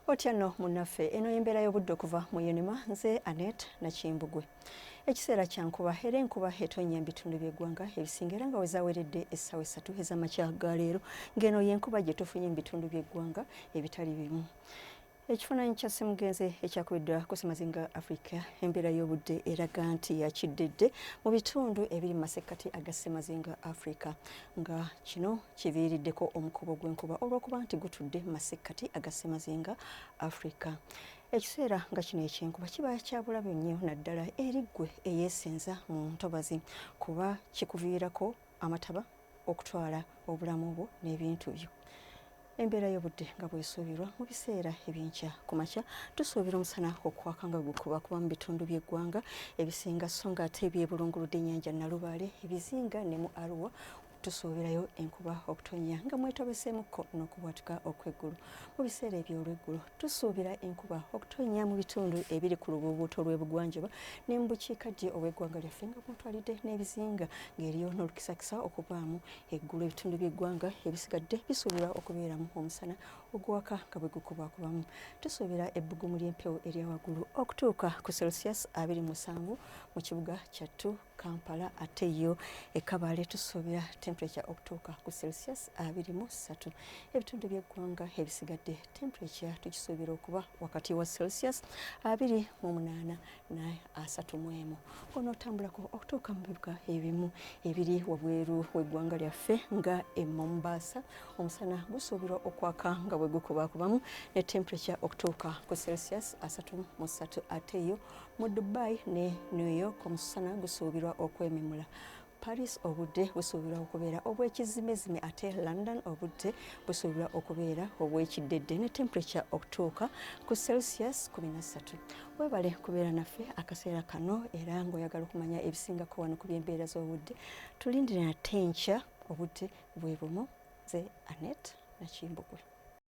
otya no munaffe eno yembeera y'obudde okuva mu unima nze anet nakimbugwe ekiseera kyankuba era enkuba etonnya mu bitundu by'eggwanga ebisinga era nga wezaweredde essaawa essatu ez'amakya ga leero ng'eno y'enkuba gye tufunye mu bitundu by'eggwanga ebitali bimu ekifaananyi kya ssemugenzi ekyakubiddwa ku ssemazinga africa embeera y'obudde eraga nti yakiddedde mu bitundu ebiri mu masekkati aga ssemazinga africa nga kino kiviiriddeko omukubo gw'enkuba olw'okuba nti gutudde mu masekkati aga ssemazinga africa ekiseera nga kino ekyenkuba kiba kyabulabe nnyo naddala eri ggwe eyeesenza mu ntobazi kuba kikuviirako amataba okutwala obulamu bwo n'ebintu byo Embeera y'obudde nga bwesuubirwa mu biseera eby'enkya ku makya tusuubira omusana okwaka nga gukuba kuba mu bitundu by'eggwanga ebisinga so nga ate ebyebulunguludde ennyanja Nalubaale ebizinga ne mu Arua tusuubirayo enkuba okutonnya nga mwetabeseemukko n'okubwatuka okw'eggulu mu biseera eby'olweggulo tusuubira enkuba okutonnya mu bitundu ebiri ku lubuubuuto lw'ebugwanjuba ne mu bukiikaddyo obw'eggwanga lyaffe nga mwotwalidde n'ebizinga ng'eriyo n'olukisakisa okubaamu Eggulo ebitundu by'eggwanga ebisigadde bisuubirwa okubeeramu omusana oguwaka nga bwe gukubakubamu. Tusuubira ebbugumu ly'empewo erya waggulu okutuuka ku celsius abiri musanvu mu kibuga kyattu Kampala ate yo e Kabale tusuubira temperature okutuuka ku celsius abiri mu ssatu. Ebitundu by'eggwanga ebisigadde temperature tukisuubira okuba wakati wa celsius abiri mu munaana naye asatu mu emu onootambulako okutuuka mu bibuga ebimu ebiri wabweru w'eggwanga lyaffe nga e Mombasa omusana gusuubirwa okwaka nga bwe gukubakubamu ne temperature okutuuka ku celsius asatu mu ssatu ate yo mu Dubai ne New York omusana gusuubirwa okwememula Paris obudde busuubirwa okubeera obw'ekizzimezime ate London obudde busuubirwa okubeera obw'ekiddedde ne temperature okutuuka ku Celsius 13. Weebale kubeera naffe akaseera kano era ng'oyagala okumanya ebisingako wano ku by'embeera z'obudde tulindire nate enkya obudde bwe bumu ze Annette Nakimbugwe.